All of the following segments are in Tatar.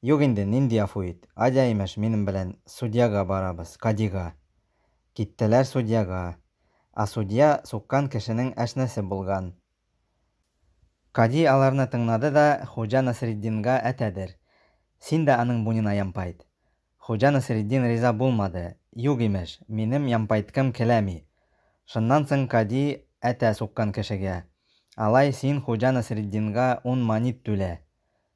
Юк инде, нинди яфу ит. Адя имеш, минем белән судьяга барабыз, кадига. Киттеләр судьяга. А судья суккан кешенең әшнәсе булган. Кади аларны тыңнады да Хуҗа Насретдинга әтәдер. Син дә аның буенына ямпайт. Хуҗа Насретдин риза булмады. Юк имеш, минем ямпайткым келәми. Шуннан соң кади әтә суккан кешегә, Алай, син Хуҗа Насретдинга ун манит түлә.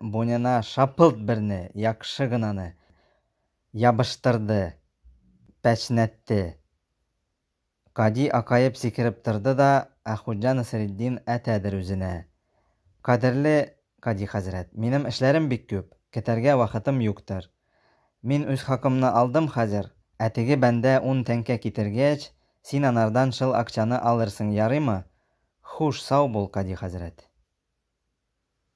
Бунина шапылт берне, яхшы гынаны, ябыштырды, пәчнәтте. Кади акаеп сикереп торды да, Ә Хуҗа Насретдин әтәдер үзенә. Кадерле Кади хәзрәт, минем эшләрем бик күп, кетәргә вакытым юктыр. Мин үз хакымны алдым хәзер, ә теге бәндә ун тәңкә китергәч, син анардан шыл акчаны алырсың, ярыймы? Хуш, сау бул, Кади хәзрәт.